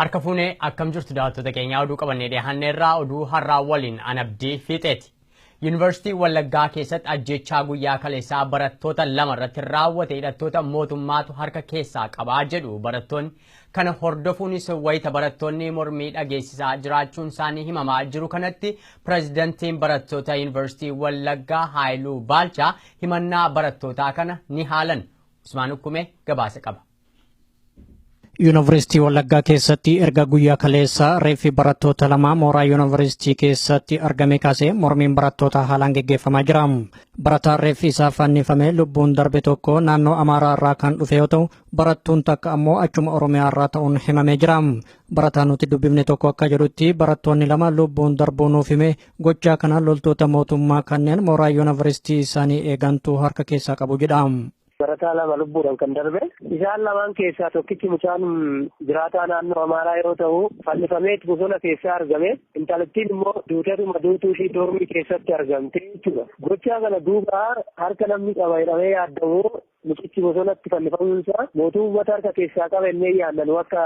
Harka fuunee akkam jirtu daawwattoota keenyaa oduu qabannee dhiyaannee irraa oduu har'aa waliin an abdii fiixeeti. Yuunivarsiitii Wallaggaa keessatti ajjechaa guyyaa kaleessaa barattoota lama irratti raawwate hidhattoota mootummaatu harka keessaa qabaa jedhu barattoonni Kana hordofuunis wayita barattoonni mormii dhageessisaa jiraachuunsaanii himamaa jiru kanatti Pireezidantiin Barattoota Yuunivarsiitii Wallaggaa Haayiluu Baalchaa himannaa barattootaa kana ni haalan. Usmaan Ukkumee gabaasa qaba. Yuunivarsiitii Wallaggaa keessatti erga guyyaa kaleessaa reeffi barattoota lamaa mooraa yuunivarsiitii keessatti argame kaasee mormiin barattootaa haalaan geggeeffamaa jira. Barataan reeffi isaa fannifame lubbuun darbe tokko naannoo Amaaraa irraa kan dhufe yoo ta'u, Barattuun takka ammoo achuma Oromiyaa irraa ta'uun himamee jira. Barataa nuti dubbifne tokko akka jedhutti barattoonni lama lubbuun darbuu nuuf hime gochaa kana loltoota mootummaa kanneen mooraa yuunivarsiitii isaanii eegantu harka keessaa qabu jedha. Barataa lama lubbuudhaan kan darbe isaan lamaan keessaa tokkichi mucaan jiraataa naannoo Amaaraa yoo ta'u fannifamee bosona keessaa argame intalattiin immoo duutatuma duutuu ishii doormii keessatti argamte jechuudha. Gochaa kana duuba harka namni qaba jedhamee yaadamu Mucichi bosonatti fannifamuun isaa mootuu uummata harka keessaa qaba ennee yaadna nu akka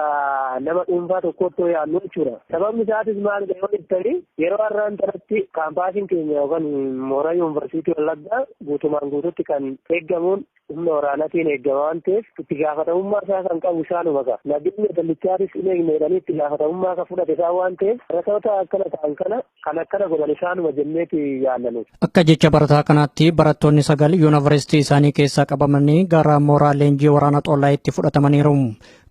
nama dhuunfaa tokkootti yoo yaadnu jechuudha. Sababni isaatis maalidha yoo jettanii yeroo har'aan tanatti kaampaasiin keenya yookan mooraa yuunvarsiitii Wallaggaa guutumaan guututti kan eeggamuun humna waraanatiin eeggama waan ta'eef itti gaafatamummaa isaa kan qabu isaanuma ka. Nageenya dallichaatis hin eegne jedhanii itti gaafatamummaa ka fudhate isaan waan ta'eef rakkoota akkana ta'an kana Kan akkana godhan isaanuma jenneeti yaadna nuti. Akka jecha barataa kanaatti barattoonni sagal yuunivarsiitii isaanii keessaa qabamanii gara mooraa leenjii waraana Xollaayitti fudhatamaniiru.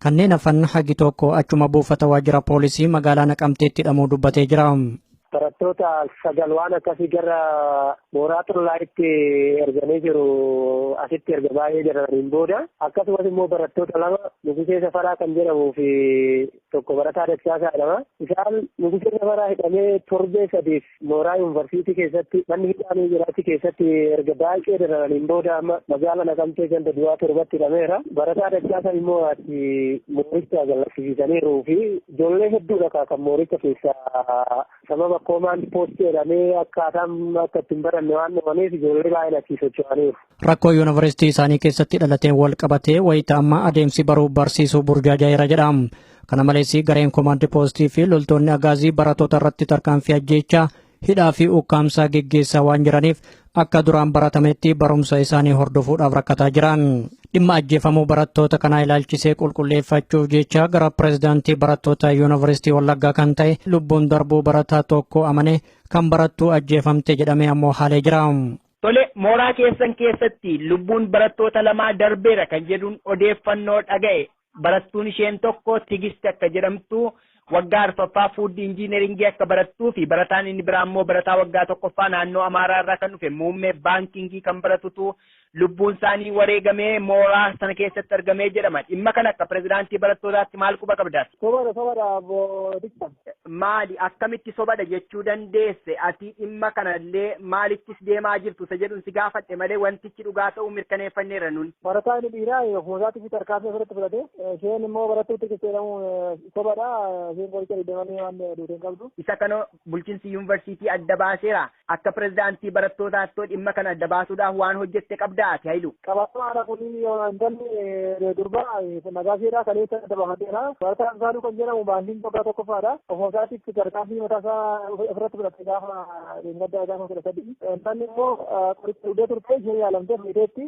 Kanneen hafan hagi tokko achuma buufata waajjira poolisii magaalaa Naqamteetti hidhamuu dubbatee jira. Barattoota sagal waan akkasii gara mooraa Xollaayitti erganii jiru asitti erga baay'ee jedhamaniin booda akkasumas immoo barattoota lama Nugusee Safaraa kan jedhamuu fi Tokko Barataa Dachaasaa jedhama. Isaan Nugusee Nabaraa hidhamee torbee sadiif mooraa yuunvarsiitii keessatti manni hidhaa ni jira achi keessatti erga baay'ee dararaniin booda amma magaala Naqamtee ganda duwaa torbatti hidhameera. Barataa Dachaasaa immoo ati mooricha gallakkisiisaniiru fi ijoollee hedduudha kaa kan mooricha keessaa sababa koomaand poostii jedhamee akkaataan akka ittiin baranne waan dhabaniif ijoollee baay'een achii socho'aniiru. Rakkoo yuunivarsiitii isaanii keessatti dhalateen wal qabatee wayita ammaa adeemsi baruu barsiisuu burjaajaa'eera jedha. Kana malees gareen koomaandi poostii fi loltoonni agaazii barattoota irratti tarkaanfii ajjeechaa hidhaa fi ukkaamsaa geggeessaa waan jiraniif akka duraan baratametti barumsa isaanii hordofuudhaaf rakkataa jiran. Dhimma ajjeefamuu barattoota kanaa ilaalchisee qulqulleeffachuuf jecha gara pireezidaantii barattoota yuunivarsiitii Wallaggaa kan ta'e lubbuun darbuu barataa tokko amane kan barattuu ajjeefamte jedhamee ammoo haalee jira. Tole, mooraa keessan keessatti lubbuun barattoota lamaa darbeera kan jedhuun odeeffannoo dhaga'e. Barattuun isheen tokko Tigist akka jedhamtu waggaa arfaffaa Fuud Injiineringii akka barattuu fi barataan inni biraa immoo barataa waggaa tokkoffaa naannoo Amaaraa irraa kan dhufe muummee baankingii kan baratutu lubbuun isaanii wareegamee mooraa sana keessatti argamee jedhama. Dhimma kana akka pirezidaantii barattootaatti maal quba qabda? Sobadha sobadha obbo Tiksan. Maali akkamitti sobadha jechuu dandeesse ati dhimma kanallee maalittis deemaa jirtu isa jedhun si gaafadhe malee wantichi dhugaa ta'uu mirkaneeffanneerra nun. Barataa inni dhiiraa ofuma isaatiif tarkaanfii ofirratti fudhate isheen immoo barattuutti qixxeedhamuun sobadha isheen qoricha dhidhamanii waan duute hin qabdu. Isa kana bulchinsi yuunivarsiitii adda baaseera. Akka pirezidaantii barattootaattoo dhimma kana adda baasuudhaaf waan hojjette qabdaa ati Hayilu? Qabatamaadha kun intalli durbaa Nagaasheedha kaleessa adda baafateera. Barataa Amsaaluu kan jedhamu baandiin waggaa tokkoffaadha. Ofuma isaatiif tarkaanfii mataa isaa ofirratti fudhate gaafa gaddaa gaafa kudha sadii. Intalli immoo qoricha dhugdee turte ishee yaalamtee fayyiteetti.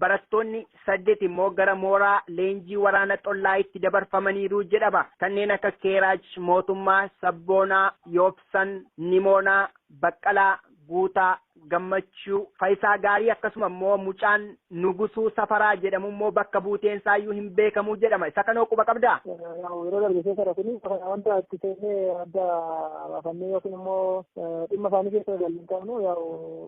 Barattoonni saddet immoo gara mooraa leenjii waraana xollaayitti dabarfamaniiru jedhama. Kanneen akka Keeraaj, Mootummaa, Sabboonaa, Yoobsan, Nimoonaa, Baqqalaa, Guutaa, Gammachuu, Fayisaa Gaarii akkasuma immoo mucaan Nugusuu Safaraa jedhamu immoo bakka buuteen isaa iyyuu hin beekamu jedhama. Isa kanoo quba qabdaa? Yeroo darbe keessadha kuni wanta itti seennee adda baafannee yookiin immoo dhimma isaanii keessa waliin qabnu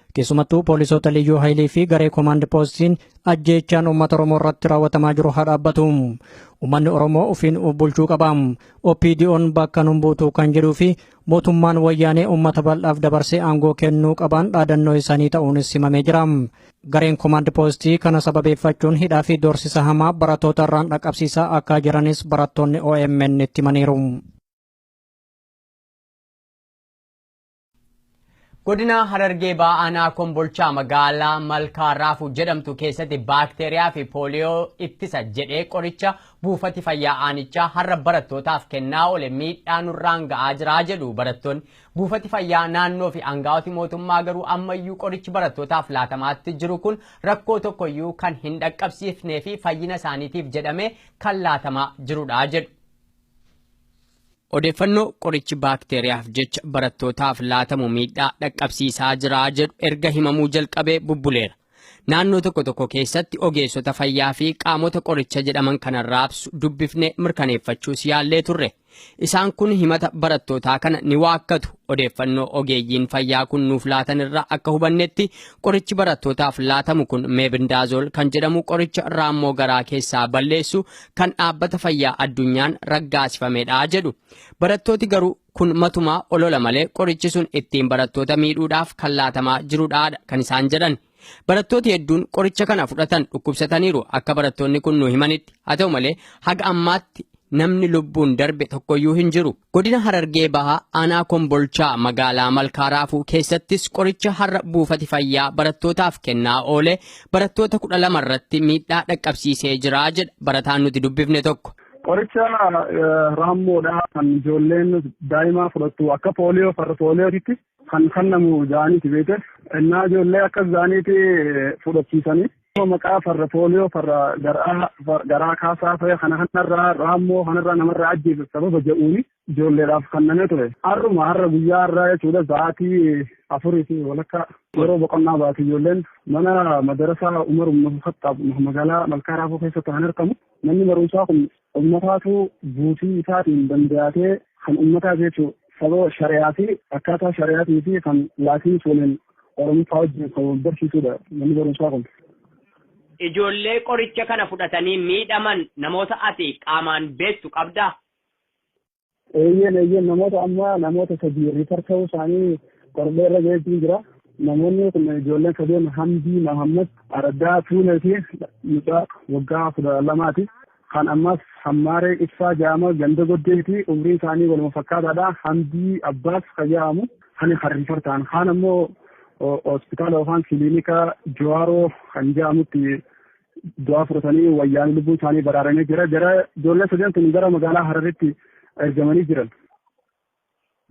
Keessumattuu poolisoota liyyuu hayilii fi garee koomaand poostiin ajjeechaan uummata Oromoo irratti raawwatamaa jiru haa dhaabbatu. Uummanni Oromoo ofiin of bulchuu qaba. OPDO'n bakka nun buutuu kan jedhuu fi mootummaan wayyaanee uummata bal'aaf dabarsee aangoo kennuu qabaan dhaadannoo isaanii ta'uunis himamee jira. Gareen koomaand poostii kana sababeeffachuun hidhaa fi doorsisa hamaa barattoota irraan dhaqqabsiisaa akka jiranis barattoonni OMN itti himaniiru. Godina Harargee Bahaa Aanaa Kombolchaa magaalaa Malkaa Raafuu jedhamtu keessatti baakteeriyaa fi pooliyoo ittisa jedhee qoricha buufati fayyaa aanichaa har'a barattootaaf kennaa oole miidhaa nurraan ga'aa jira jedhu barattoonni. Buufati fayyaa naannoo fi aangawooti mootummaa garuu ammayyuu qorichi barattootaaf laatamaatti jiru kun rakkoo tokkoyyuu kan hin dhaqqabsiifnee fi fayyina isaaniitiif jedhamee kan laatamaa jirudha jedhu. Odeeffannoo qorichi baakteeriyaaf jecha barattootaaf laatamu miidhaa dhaqqabsiisaa jira jedhu erga himamuu jalqabee bubbuleera. Naannoo tokko tokko keessatti ogeessota fayyaa fi qaamota qoricha jedhaman kana raabsu dubbifne mirkaneeffachuus yaallee turre. Isaan kun himata barattootaa kana ni waakkatu. Odeeffannoo ogeeyyiin fayyaa kun nuuf laatan irraa akka hubannetti qorichi barattootaaf laatamu kun meebindaazool kan jedhamu qoricha raammoo garaa keessaa balleessu kan dhaabbata fayyaa addunyaan raggaasifamedha jedhu. Barattooti garuu kun matumaa olola malee qorichi sun ittiin barattoota miidhuudhaaf kan laatamaa jirudha kan isaan jedhan. Barattooti hedduun qoricha kana fudhatan dhukkubsataniiru akka barattoonni kun nu himanitti. Haa ta'u malee haga ammaatti namni lubbuun darbe tokkoyyuu hin jiru. Godina Harargee Bahaa aanaa Kombolchaa magaalaa Malkaa Raafuu keessattis qoricha har'a buufati fayyaa barattootaaf kennaa oole barattoota kudha lama irratti miidhaa dhaqqabsiisee jira jedha barataan nuti dubbifne tokko. Qoricha raammoodha kan ijoolleen daa'imaa fudhattu akka pooliyoo farra pooliyootitti kan kennamu jaaniiti beekte. Innaa ijoollee akka jaaniiti fudhachiisanii maqaa farra pooliyoo farra garaa garaa kaasaa fayya kana kanarraa raammoo kanarraa namarraa ajjeesuuf sababa jedhuuni ijoolleedhaaf kanname ture. Har'uma har'a guyyaa har'aa jechuudha sa'aatii afurii fi walakkaa yeroo boqonnaa baate ijoolleen mana madarasaa Umar Ibn Khattaab magaalaa Malkaa Raafuu keessatti kan argamu manni barumsaa kun Ummataatu buusii isaatiin dandayatee kan ummataa jeechu sababa shari'aa fi akkaataa shari'aatii fi kan laatinis waliin oromiffaa wajjin kan wal barsiisuudha manni barumsaa kun. Ijoollee qoricha kana fudhatanii miidhaman namoota ati qaamaan beektu qabdaa? Eeyyeen eeyyeen namoota amma namoota sadii riifar ta'uu isaanii qorbee irra ga'eetiin jira. Namoonni kun ijoolleen sadeen Hamdii Mahammad Araddaa Tuulee fi mucaa waggaa kudha lamaati. Kan ammas Hammaaree Ibsaa Jaama ganda goddeeti umriin isaanii waluma fakkaataadha. Hamdii Abbaas kan jedhamu kan kan riifar ta'an. Kaan ammoo hospitaala yookaan kiliinika Jawaaroo kan jedhamutti du'aa fudhatanii wayyaanee lubbuu isaanii baraaranii jira. Jara ijoollee sadan sun gara magaalaa Hararitti ergamanii jiran.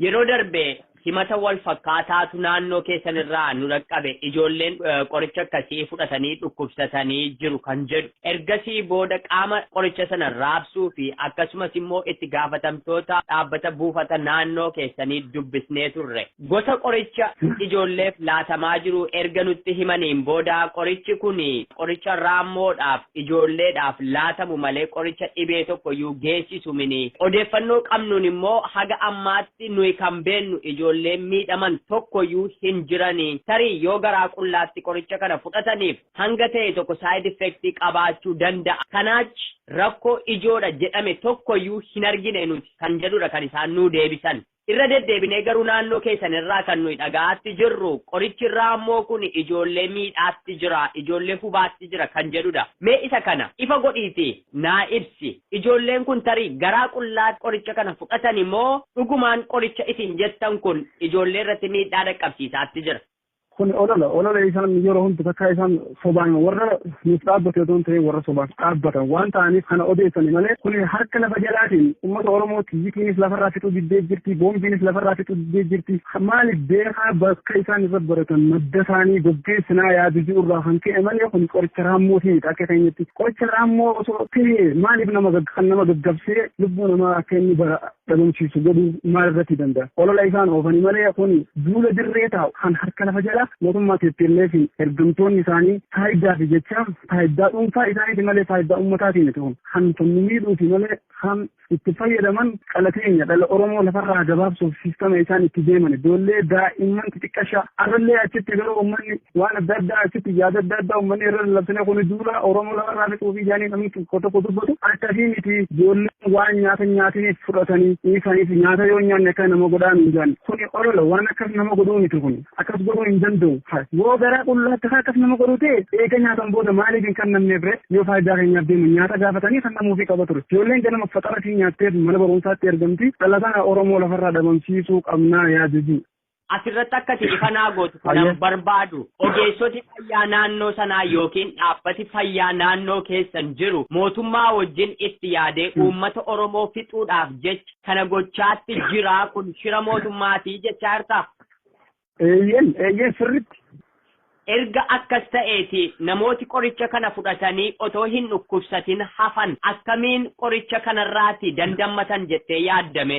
Yeroo darbe himata wal fakkaataatu naannoo keessan irraa nu dhaqqabe ijoolleen qoricha akkasii fudhatanii dhukkubsatanii jiru kan jedhu. Ergasii booda qaama qoricha sana raabsuu fi akkasumas immoo itti gaafatamtoota dhaabbata buufata naannoo keessanii dubbisnee turre. Gosa qoricha ijoolleef laatamaa jiru erga nutti himaniin booda qorichi kun qoricha raammoodhaaf, ijoolleedhaaf, laatamu malee qoricha dhibee tokkoyyuu geessisu mini. Odeeffannoo qabnuun immoo haga ammaatti nuyi kan beennu ijoolleen miidhaman tokkoyyuu hin jirani. Tarii yoo garaa qullaatti qoricha kana fudhataniif hanga ta'e tokko side effect qabaachuu danda'a. Kanaachi rakkoo ijoodha jedhame tokkoyyuu hin argine nuti kan jedhudha kan isaan nuu deebisan. Irra deddeebinee garuu naannoo keessan irraa kan nuyi dhaga'aatti jirru qorichi raammoo kun ijoollee miidhaatti jira, ijoollee hubaatti jira kan jedhudha. Mee isa kana ifa godhiitii naa ibsi. Ijoolleen kun tarii garaa qullaatti qoricha kana fudhatani moo dhugumaan qoricha isin jettan kun ijoollee irratti miidhaa dhaqqabsiisaatti jira? Kun olola olola isaan yeroo hundi takkaa isaan sobaan warra nuuf dhaabbate otoo hin ta'in warra sobaaf dhaabbatan waan ta'aniif kana odeessani malee kun harka lafa jalaatiin uummata Oromoo xiyyiitiinis lafarraa fixuu diddee jirti boombiinis lafarraa fixuu diddee jirti maaliif beekaa bakka isaan irra baratan madda isaanii goggeessinaa yaadu jiru irraa kan ka'e malee kun qoricha raammoo ta'edha akka keenyatti qoricha raammoo osoo ta'e maaliif nama kan nama gaggabsee lubbuu namaa akka inni bara dhabamsiisu godhuu maal irratti danda'a? Olola isaan oofani malee kuni duula dirree taa'u kan harka lafa jalaa mootummaa TPLFn ergamtoonni isaanii faayiddaafi jechaa faayiddaa dhuunfaa isaaniiti malee faayiddaa ummataati miti kun. Kan kan nu miidhuuti malee kan itti fayyadaman dhala keenya dhala Oromoo lafarraa gabaabsuuf siistama isaan itti deeman ijoollee daa'imman xixiqqashaa arrallee achitti garuu ummanni waan adda addaa achitti yaada adda addaa ummanni irra lallabsine kuni duula Oromoo lafarraa fixuufi jaanii namni tokko tokko dubbatu akkasii miti ijoolleen waan nyaata nyaatiniif fudhatanii dhiisaniif nyaata yoo nyaanne akka nama godhaa nuun jedhan kuni olola waan akkas nama godhuu miti kun akkas godhuu hin danda'u yoo garaa qullaa akkasaa akkas nama godhuu ta'e eega nyaatan booda maaliif hin kannamne bire yoo faayidaa keenyaaf deemu nyaata gaafatanii kannamuufii qaba ture ijoolleen ganama faxara fi nyaatteef mana barumsaatti ergamti dhalataa Oromoo lafarraa dhabamsiisuu qabnaa yaaduu Asirratti akka ati ifa naa gootu kanan Hayyee. barbaadu ogeessoti fayyaa naannoo sanaa yookiin dhaabbati fayyaa naannoo keessan jiru mootummaa wajjin itti yaadee uummata Oromoo fixuudhaaf jecha kana gochaatti jiraa kun shira mootummaatii jechaa jirtaa? Eeyyeen eeyyeen sirriitti. Erga akkas ta'eeti namooti qoricha kana fudhatanii otoo hin dhukkubsatin hafan akkamiin qoricha kanarraati dandammatan jettee yaaddame?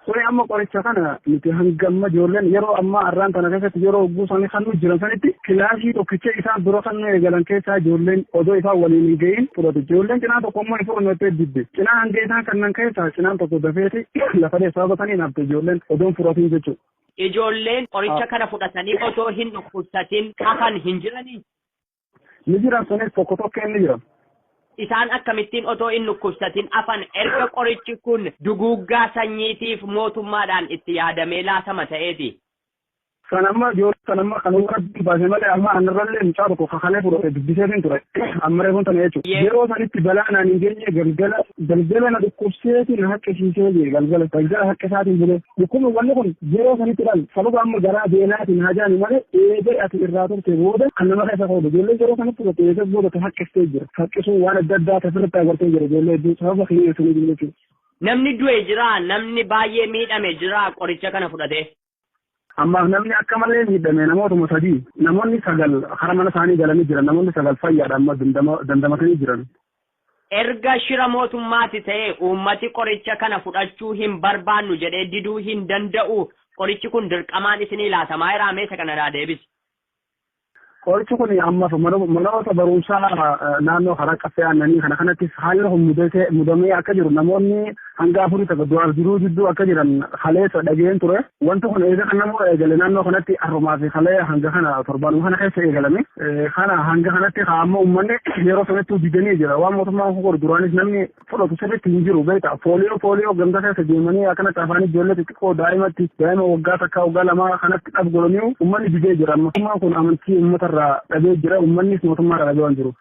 Kuni amma qoricha kana nuti hanga amma ijoolleen yeroo ammaa arraan tana keessatti yeroo hogguu isaanii kan nu jiran sanitti kilaasii tokkicha isaan dura kan nu eegalan keessaa ijoolleen odoo isaan waliin hin ga'iin fudhatu. Ijoolleen cinaa tokko immoo hin fudhannu jettee didde. Cinaa hanga isaan kannan keessaa cinaan tokko dafeeti lafa dheessaa batanii nafte ijoolleen odoo hin fudhatiin jechuudha. Ijoolleen qoricha kana fudhatanii otoo hin dhukkubsatiin hafan hin jiranii? Ni jiran sunis tokko tokkeen ni jiran. Isaan akkamittiin otoo hin dhukkubsatin afan erga qorichi kun duguuggaa sanyiitiif mootummaadhaan itti yaadamee laatama ta'eeti? Kan amma ijoollee kan amma kan rabbiin baase malee amma anarrallee mucaa tokko kakalee fudhate dubbiseetiin ture amma reefuun tana jechuudha. Yee. Yeroo sanitti balaa naan hin geenye galgala galgala na dhukkubseetiin haqqisiisee jee galgala galgala haqqisaatiin bulee. Dhukkubni wanni kun yeroo sanitti dhalu sababa amma garaa beelaatiin haa jaani malee eega ati irraa turte booda kan nama keessa ka'udha. Ijoollee yeroo sanitti turte eega booda ta haqqistee jira. Haqqisuu waan adda addaa tasirratti agartee jira ijoollee hedduu sababa kiyya sanii jiru jechuudha. Namni du'e jiraa? Namni baay'ee miidhame jiraa qoricha kana fudhatee? Ammaaf namni akka malee miidhame namootuma sadii namoonni sagal hara mana isaanii galanii jiran namoonni sagal fayyaadha amma dandamatanii jiran. Erga shira mootummaati ta'e uummati qoricha kana fudhachuu hin barbaannu jedhee diduu hin danda'u. Qorichi kun dirqamaan isinii laatamaaeraa mee isa kana naa deebisi. Qorichi kun ammaaf manoota barumsaa naannoo Karaa Caffee Aannanii kana kanattis haalli kun mudamee akka jiru namoonni hanga afurii takka du'aaf jiruu jidduu akka jiran kaleessa dhageen ture. Wanti kun eega kan nama eegale naannoo kanatti har'umaa fi kalee hanga kana torbaanuma kana keessa eegalame. Kana hanga kanatti haa amma uummanni yeroo sanatti didanii jira. Waan mootummaan kun godhu duraanis namni fudhatu sirriitti hin jiru beektaa. Pooliyoo pooliyoo ganda keessa deemanii akkanatti afaan ijoollee xixiqqoo daa'imatti daa'ima waggaa takkaa waggaa lamaa kanatti dhab godhanii uummanni didee jira. Mootummaan kun amantii uummatarraa dhabee jira. Uummannis mootummaarraa dhabee waan jiruuf.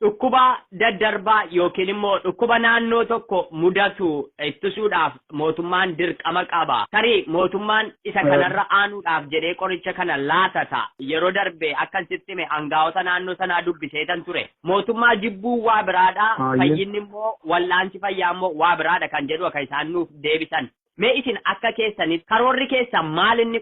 Dhukkuba daddarbaa yookiin immoo dhukkuba naannoo tokko mudatu ittisuudhaaf mootummaan dirqama qaba. Tarii mootummaan isa kanarra aanuudhaaf jedhee qoricha kana laata ta'a. Yeroo darbe akkan sitti hime angaa'ota naannoo sanaa dubbiseetan ture. Mootummaa jibbuun waa biraadha, Hayyee. fayyinni immoo wal'aansi fayyaa immoo waa biraadha kan jedhu akka isaan nuuf deebisan. Mee isin akka keessanitti karoorri keessan maal inni?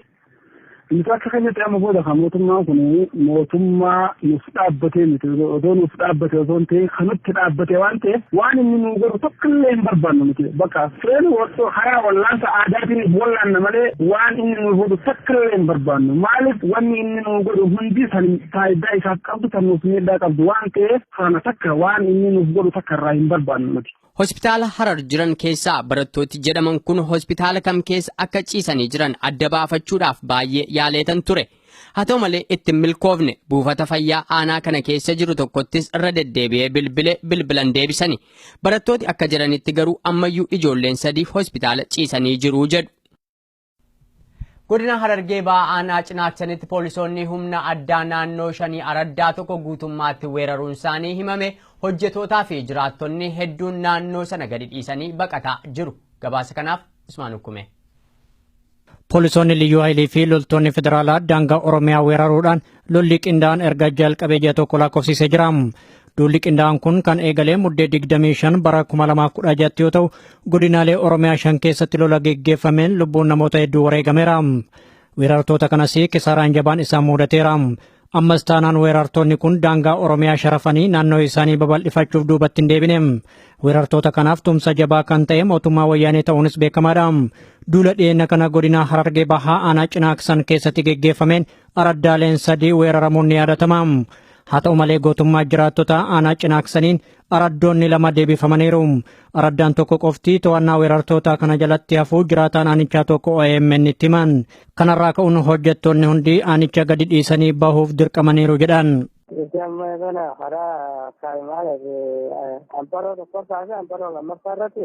Nuti akka keenyatti amma booda kan mootummaan kun mootummaa nuuf dhaabbatee miti. Odoo nuuf dhaabbate osoo hin ta'in kan nutti dhaabbate waan ta'eef waan inni nuu godhu tokko illee hin barbaannu nuti. Bakka fireen osoo karaa wallaansa aadaatiiniif wallaanna malee waan inni nuu godhu tokko illee hin barbaannu. Maaliif wanni inni nuu godhu hundi kan faayidaa isaaf qabdu kan nuuf miidhaa qabdu waan ta'eef kana takka waan inni nuuf godhu takka irraa hin barbaannu nuti. Hospitaala Harar jiran keessaa barattooti jedhaman kun hospitaala kam keessa akka ciisanii jiran adda baafachuudhaaf baay'ee yaaleetan ture. Haa ta'u malee itti hin milkoofne buufata fayyaa aanaa kana keessa jiru tokkottis irra deddeebi'ee bilbile bilbilan deebisani. Barattooti akka jiranitti garuu ammayyuu ijoolleen sadii hospitaala ciisanii jiru jedhu. Godina Harargee Bahaa Aanaa Cinaaksanitti poolisoonni humna addaa naannoo shanii araddaa tokko guutummaatti weeraruun isaanii himame hojjetootaa fi jiraattonni hedduun naannoo sana gadi dhiisanii baqataa jiru. Gabaasa kanaaf Usmaan Ukkume. Poolisoonni Liyyuu Hayilii fi loltoonni federaalaa daangaa Oromiyaa weeraruudhaan Lolli qindaa'aan erga jalqabee ji'a tokko lakkoofsisee jira. Duulli qindaa'aan kun kan eegalee muddee 25 bara 2016 yoo ta'u, godinaalee Oromiyaa shan keessatti lola geggeeffameen lubbuun namoota hedduu wareegameera. Weerartoota kanas kisaaraan jabaan isaan mudateera. Ammas taanaan weerartoonni kun daangaa Oromiyaa sharafanii naannoo isaanii babal'ifachuuf duubatti hin deebine. Weerartoota kanaaf tumsa jabaa kan ta'e mootummaa wayyaanee ta'uunis beekamaadha. Duula dhiyeenya kana godinaa Harargee Bahaa aanaa Cinaaksan keessatti geggeeffameen Araddaaleen sadii weeraramuun ni yaadatama. Haa ta'u malee gootummaa jiraattota aanaa cinaaksaniin araddoonni lama deebifamaniiru. Araddaan tokko qofti to'annaa weerartootaa kana jalatti hafuu jiraataan aanichaa tokko OMN itti himan. Kanarraa ka'uun hojjettoonni hundi aanicha gadi dhiisanii bahuuf dirqamaniiru jedhan. Itti amma kana karaa kaa'imaaleef amparoo tokkoffaa fi amparoo lammaffaa irratti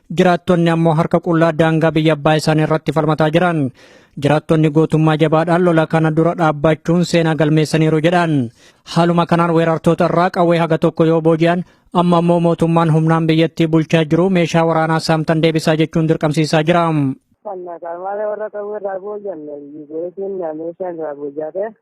Jiraattonni ammoo harka qullaa daangaa biyya abbaa isaanii irratti falmataa jiran. Jiraattonni gootummaa jabaadhaan lola kana dura dhaabbachuun seenaa galmeessaniiru jedhan. Haaluma kanaan weerartoota irraa qawwee haga tokko yoo booji'an amma ammoo mootummaan humnaan biyyattii bulchaa jiru meeshaa waraanaa saamtan deebisaa jechuun dirqamsiisaa jira. Kan malee warra qawwee irraa booji'an, goletiin meeshaan irraa booji'ate.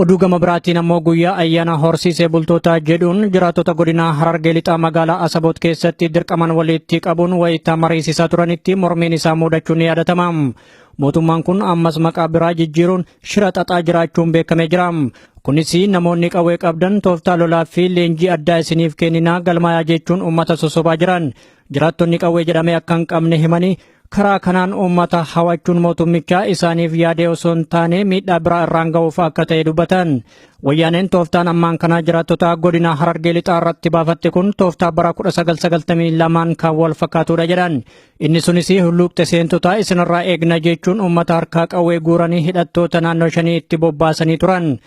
Oduu gama biraatiin ammoo guyyaa ayyaana horsiisee bultootaa jedhuun jiraattota godinaa Harargee Lixaa magaalaa Asaboot keessatti dirqaman walitti qabuun wayita mariisisaa turanitti mormiin isaa muudachuun ni yaadatama. Mootummaan kun ammas maqaa biraa jijjiiruun shira xaxaa jiraachuun beekamee jira. Kunis namoonni qawwee qabdan tooftaa lolaa fi leenjii addaa isiniif kenninaa galmaayaa jechuun uummata sosobaa jiran. Jiraattonni qawwee jedhamee akka hin qabne himanii Karaa kanaan uummata hawachuun mootummichaa isaaniif yaadee osoo hin taane miidhaa biraa irraan ga'uuf akka ta'e dubbatan. Wayyaaneen tooftaan ammaan kanaa jiraattota godina Harargee lixaa irratti baafatte kun tooftaa bara 1992n kan wal fakkaatudha jedhan. Inni sunis hulluuqxe seentotaa isinirraa eegna jechuun uummata harkaa qawwee guuranii hidhattoota naannoo shanii itti bobbaasanii turan.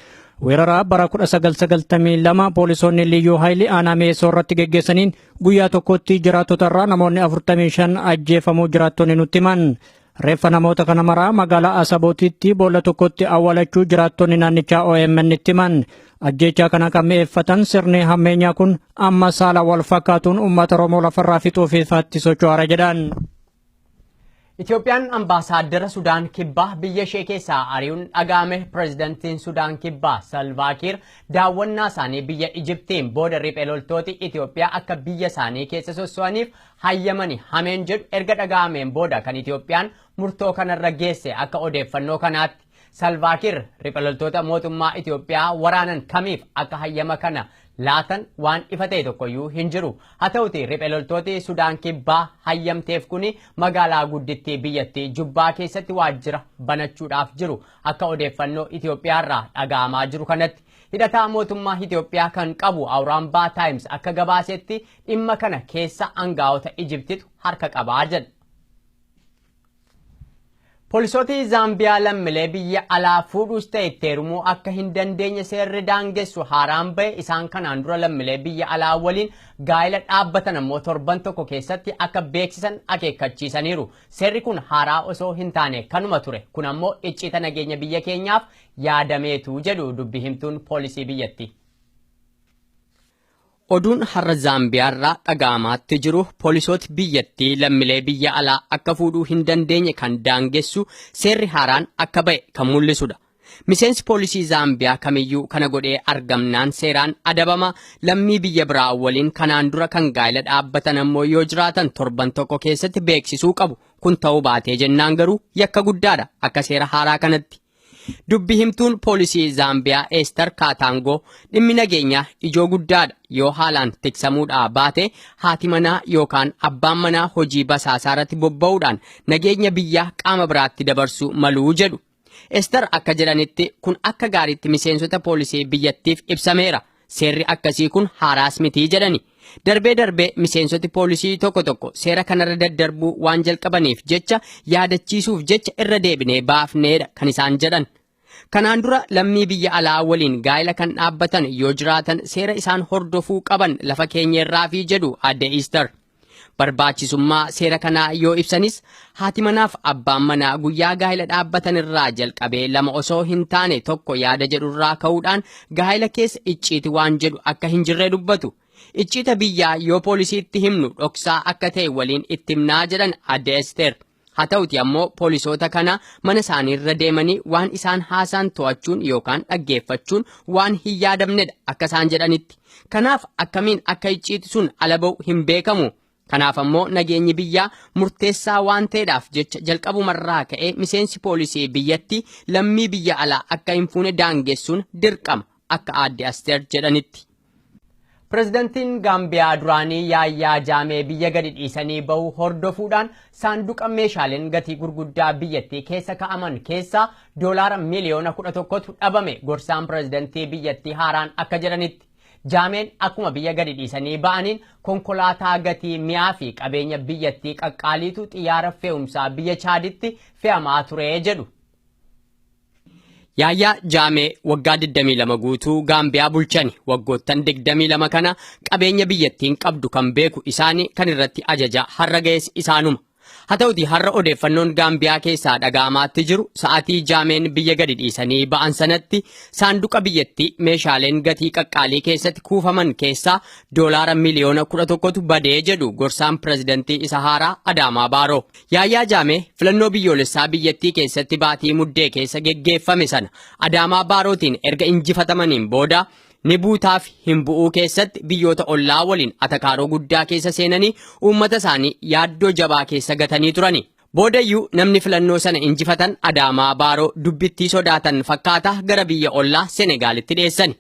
Weeraraa bara 1992 poolisoonni liyyuu haayilii aanaa mi'eessoo irratti geggeessaniin Guyyaa tokkotti jiraattota irraa namoonni 45 ajjeefamuu jiraattonni nutti himan. Reeffa namoota kana maraa magaalaa Asabootitti boolla tokkotti awwaalachuu jiraattonni naannichaa OMN itti himan. Ajjeechaa kana kan mi'eeffatan sirni hammeenyaa kun amma saala wal fakkaatuun uummata Oromoo lafarraa fixuuf ifaatti socho'aara jedhan. Itoophiyaan ambaasaaddara Sudaan Kibbaa biyya ishee keessaa ari'uun dhaga'ame pireezidantiin Sudaan Kibbaa Salvaa Kiir daawwannaa isaanii biyya Ijiptiin booda riphee loltooti Itoophiyaa akka biyya isaanii keessa sosso'aniif hayyamani hameen jedhu erga dhaga'ameen booda kan Itoophiyaan murtoo kanarra geesse akka odeeffannoo kanaatti. Salvaakir ripa loltoota mootummaa Itoophiyaa waraanan kamiif akka hayyama kana laatan waan ifa ta'e tokkoyyuu hin jiru. Haa ta'uti riphe loltooti Sudaan Kibbaa hayyamteef kuni magaalaa guddittii biyyattii Jubbaa keessatti waajjira banachuudhaaf jiru akka odeeffannoo Itoophiyaarraa dhaga'amaa jiru kanatti. Hidhataa mootummaa Itoophiyaa kan qabu Awuraambaa Taayims akka gabaasetti dhimma kana keessa angaa'ota Ijibtitu harka qabaa jedha. Polisooti Zaambiyaa lammilee biyya alaa fuudhuus ta'e itti heerumuu akka hin dandeenye seerri daangessu haaraan ba'e isaan kanaan dura lammilee biyya alaa waliin gaa'ila dhaabbatan ammoo torban tokko keessatti akka beeksisan akeekkachiisaniiru. Seerri kun haaraa osoo hin taane kanuma ture. Kun ammoo icciita nageenya biyya keenyaaf yaadameetu jedhu dubbi himtuun poolisii biyyattii. Oduun har'a Zaambiyaarraa dhaga'amaatti jiru poolisooti biyyattii lammilee biyya alaa akka fuudhuu hin dandeenye kan daangessu seerri haaraan akka ba'e kan mul'isudha. Miseensi poolisii Zaambiyaa kamiyyuu kana godhee argamnaan seeraan adabama, lammii biyya biraa waliin kanaan dura kan gaa'ila dhaabbatan ammoo yoo jiraatan torban tokko keessatti beeksisuu qabu. Kun ta'uu baatee jennaan garuu yakka guddaadha akka seera haaraa kanatti. Dubbi himtuun poolisii Zaambiyaa Eestar Kaataangoo dhimmi nageenyaa ijoo guddaadha yoo haalaan tiksamuudhaa baate haati manaa yookaan abbaan manaa hojii basaasaa irratti bobba'uudhaan nageenya biyyaa qaama biraatti dabarsuu maluu jedhu. Eestar akka jedhanitti kun akka gaariitti miseensota poolisii biyyattiif ibsameera. Seerri akkasii kun haaraas miti jedhani. Darbee darbee miseensoti poolisii tokko tokko seera kanarra daddarbuu waan jalqabaniif jecha yaadachiisuuf jecha irra deebinee baafneedha kan isaan jedhan. Kanaan dura lammii biyya alaa waliin gaa'ila kan dhaabbatan yoo jiraatan seera isaan hordofuu qaban lafa keenyerraafi jedhu Aadde Iistar. Barbaachisummaa seera kanaa yoo ibsanis haati manaaf abbaan manaa guyyaa gaa'ila dhaabbatan irraa jalqabee lama osoo hin taane tokko yaada jedhu irraa ka'uudhaan gaa'ila keessa icciiti waan jedhu akka hin jirree dubbatu. Icciita biyyaa yoo poolisiitti himnu dhoksaa akka ta'e waliin itti himnaa jedhan adde Esteer. Haa ta'uti ammoo poolisoota kana mana isaaniirra deemanii waan isaan haasaan to'achuun yookaan dhaggeeffachuun waan hin yaadamnedha akka isaan jedhanitti. Kanaaf akkamiin akka icciiti sun ala ba'u hin beekamu. Kanaaf ammoo nageenyi biyyaa murteessaa waan ta'edhaaf jecha jalqabumarraa ka'ee miseensi poolisii biyyatti lammii biyya alaa akka hin fuune daangessuun dirqama akka aadde Asteer jedhanitti. Pirezidantiin Gaambiyaa duraanii Yaayyaa Jaamee biyya gadi dhiisanii bahu hordofuudhaan saanduqa meeshaaleen gatii gurguddaa biyyattii keessa ka'aman keessaa doolaara miliyoona 11tu dhabame gorsaan pirezidantii biyyattii haaraan akka jedhanitti. Jaameen akkuma biyya gadi dhiisanii ba'aniin konkolaataa gatii mi'aa fi qabeenya biyyattii qaqqaaliitu xiyyaara fe'umsaa biyya Chaaditti fe'amaa ture jedhu. Yaayyaa Jaamee waggaa 22 guutuu Gaambiyaa bulchani. Waggoottan 22 kana qabeenya biyyattiin qabdu kan beeku isaani kan irratti ajaja har'a ga'es isaanuma. Haa ta'uti har'a odeeffannoon Gaambiyaa keessaa dhaga'amaatti jiru sa'atii Jaameen biyya gadi dhiisanii ba'an sanatti saanduqa biyyattii meeshaaleen gatii qaqqaalii keessatti kuufaman keessaa doolaara miliyoona 11tu badee jedhu gorsaan pirezidantii isa haaraa Adaamaa Baaroo. Yaayyaa Jaamee filannoo biyyoolessaa biyyattii keessatti baatii muddee keessa geggeeffame sana Adaamaa Baarootiin erga injifatamaniin booda ni buutaaf hin bu'uu keessatti biyyoota ollaa waliin atakaaroo guddaa keessa seenanii uummata isaanii yaaddoo jabaa keessa gatanii turani. Boodayyuu namni filannoo sana injifatan Adaamaa Baaroo dubbittii sodaatan fakkaata gara biyya ollaa Senegaalitti dheessani.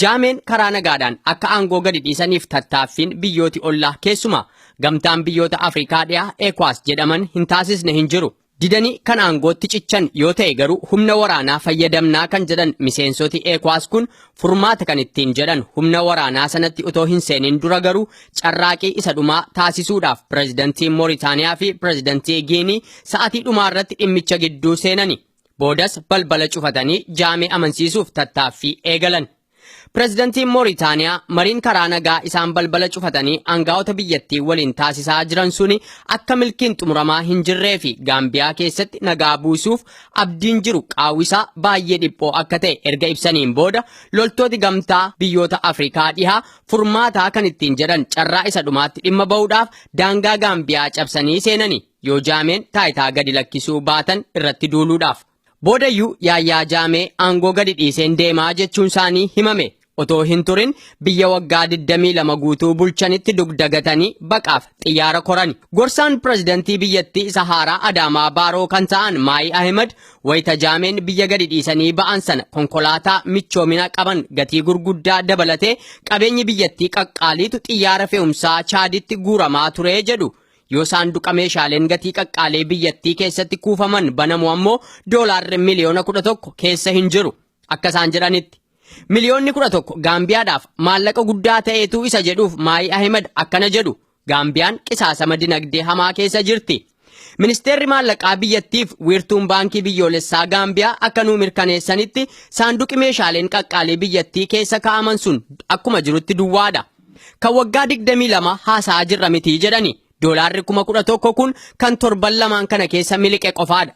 Jaameen karaa nagaadhaan akka aangoo gadi dhiisaniif tattaaffiin biyyooti ollaa keessumaa gamtaan biyyoota Afrikaa dhiyaa ECOWAS jedhaman hin taasisne hin jiru. Didanii kan aangootti cichan yoo ta'e garuu humna waraanaa fayyadamnaa kan jedhan miseensoti ECOWAS kun furmaata kan ittiin jedhan humna waraanaa sanatti otoo hin seenin dura garuu carraaqii isa dhumaa taasisuudhaaf pirezidantii Mooritaaniyaa fi pirezidantii Giinii sa'atii dhumaa irratti dhimmicha gidduu seenani. Boodas balbala cufatanii jaamee amansiisuuf tattaaffii eegalan. Pirezidantiin Mooritaaniyaa mariin karaa nagaa isaan balbala cufatanii aangaa'ota biyyattii waliin taasisaa jiran suni akka milkiin xumuramaa hin jirree fi Gaambiyaa keessatti nagaa buusuuf abdiin jiru qaawwisaa baay'ee dhiphoo akka ta'e erga ibsaniin booda loltooti gamtaa biyyoota Afrikaa dhihaa furmaataa kan ittiin jedhan carraa isa dhumaatti dhimma ba'uudhaaf daangaa Gaambiyaa cabsanii seenanii. Yoo Jaameen taayitaa gadi lakkisuu baatan irratti duuluudhaaf. Boodayyuu Yaayyaa Jaamee aangoo gadi dhiiseen deemaa jechuun isaanii himame. Otoo hin turin biyya waggaa 22 guutuu bulchanitti dugda gatanii baqaaf xiyyaara korani. Gorsaan pirezidantii biyyattii isa haaraa Adaamaa Baaroo kan ta'an Maayi Ahimad wayita Jaameen biyya gadi dhiisanii ba'an sana konkolaataa michoomina qaban gatii gurguddaa dabalatee qabeenyi biyyattii qaqqaaliitu xiyyaara fe'umsaa Chaaditti guuramaa ture jedhu. Yoo saanduqa meeshaaleen gatii qaqqaalee biyyattii keessatti kuufaman banamu ammoo doolaarri miliyoona 11 keessa hin jiru. Akka isaan jedhanitti. Miliyoonni 11 Gaambiyaadhaaf maallaqa guddaa ta'eetu isa jedhuuf Maayi Ahimad akkana jedhu. Gaambiyaan qisaasama dinagdee hamaa keessa jirti. Ministeerri maallaqaa biyyattiif wiirtuun baankii biyyoolessaa Gaambiyaa akka nuu mirkaneessanitti saanduqi meeshaaleen qaqqaalee biyyattii keessa kaa'aman sun akkuma jirutti duwwaadha. Kan waggaa 22 haasa'aa jirra miti jedhani. Doolaarri kuma 11 kun kan torban lamaan kana keessa miliqe qofaadha.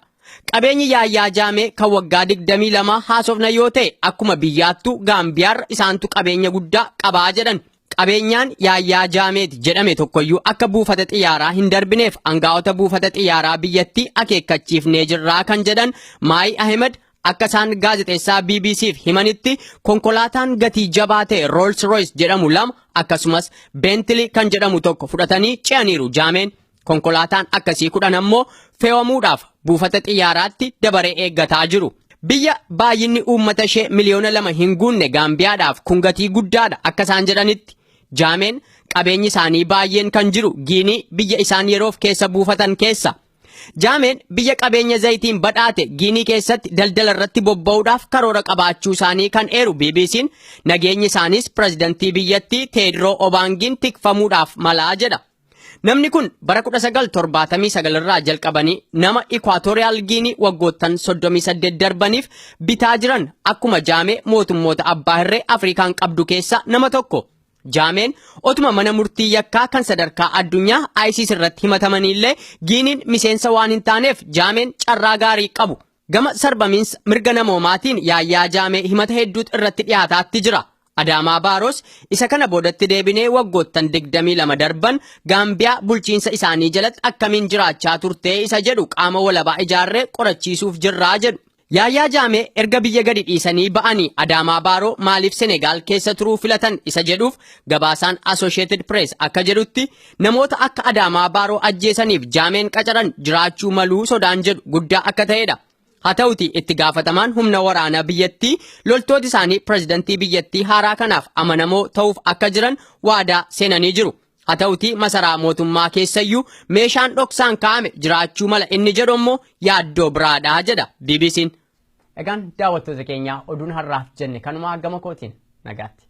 Qabeenyi Yaayyaa Jaamee kan waggaa 22 haasofna yoo ta'e akkuma biyyaattuu Gaambiyaarra isaantu qabeenya guddaa qabaa jedhan. Qabeenyaan Yaayyaa Jaameeti jedhame tokkoyyuu akka buufata xiyyaaraa hin darbineef angaa'ota buufata xiyyaaraa biyyattii akeekkachiifnee jirraa kan jedhan Maayi Ahimed Akka isaan gaazexeessaa BBC'f himanitti konkolaataan gatii jabaa ta'e Rolls Royce jedhamu lama akkasumas Bentley kan jedhamu tokko fudhatanii ce'aniiru jaameen. Konkolaataan akkasii kudhan ammoo fe'amuudhaaf buufata xiyyaaraatti dabaree eeggataa jiru. Biyya baay'inni uummata ishee miliyoona lama hin guunne Gaambiyaadhaaf kun gatii guddaadha akka isaan jedhanitti. Jaameen qabeenyi isaanii baay'een kan jiru Giinii biyya isaan yeroof keessa buufatan keessa. Jaameen biyya qabeenya zayitiin badhaate Giinii keessatti daldala irratti bobba'uudhaaf karoora qabaachuu isaanii kan eeru BBC'n nageenyi isaaniis pirezidantii biyyattii Teedroo Obaangiin tikfamuudhaaf malaa jedha. Namni kun bara 1979 irraa jalqabanii nama Ikwaatooriyaal Giinii waggoottan 38 darbaniif bitaa jiran akkuma jaamee mootummoota abbaa hirree Afrikaan qabdu keessaa nama tokko. Jaameen otuma mana murtii yakkaa kan sadarkaa addunyaa ICC irratti himatamaniillee Giiniin miseensa waan hin taaneef Jaameen carraa gaarii qabu. Gama sarbamiinsa mirga namoomaatiin Yaayyaa Jaamee himata hedduutu irratti dhiyaataatti jira. Adaamaa Baaroos isa kana boodatti deebinee waggoottan 22 darban Gaambiyaa bulchiinsa isaanii jalatti akkamiin jiraachaa turtee isa jedhu qaama walabaa ijaarree qorachiisuuf jirraa jedhu. Yaayaa Jaamee erga biyya gadi dhiisanii ba'anii Adaamaa Baaroo maaliif Senegaal keessa turuu filatan isa jedhuuf gabaasaan Associated Press akka jedhutti namoota akka Adaamaa Baaroo ajjeesaniif Jaameen qacaran jiraachuu maluu sodaan jedhu guddaa akka ta'edha. Haa ta'uti itti gaafatamaan humna waraanaa biyyattii loltooti isaanii pirezidantii biyyattii haaraa kanaaf amanamoo ta'uuf akka jiran waadaa seenanii jiru. Haa ta'utii masaraa mootummaa keessayyuu meeshaan dhoksaan kaa'ame jiraachuu mala inni jedhu immoo yaaddoo biraadha jedha BBC'n. Egaan daawwattoota keenya oduun har'aaf jenne kanumaa gama kootiin nagaatti.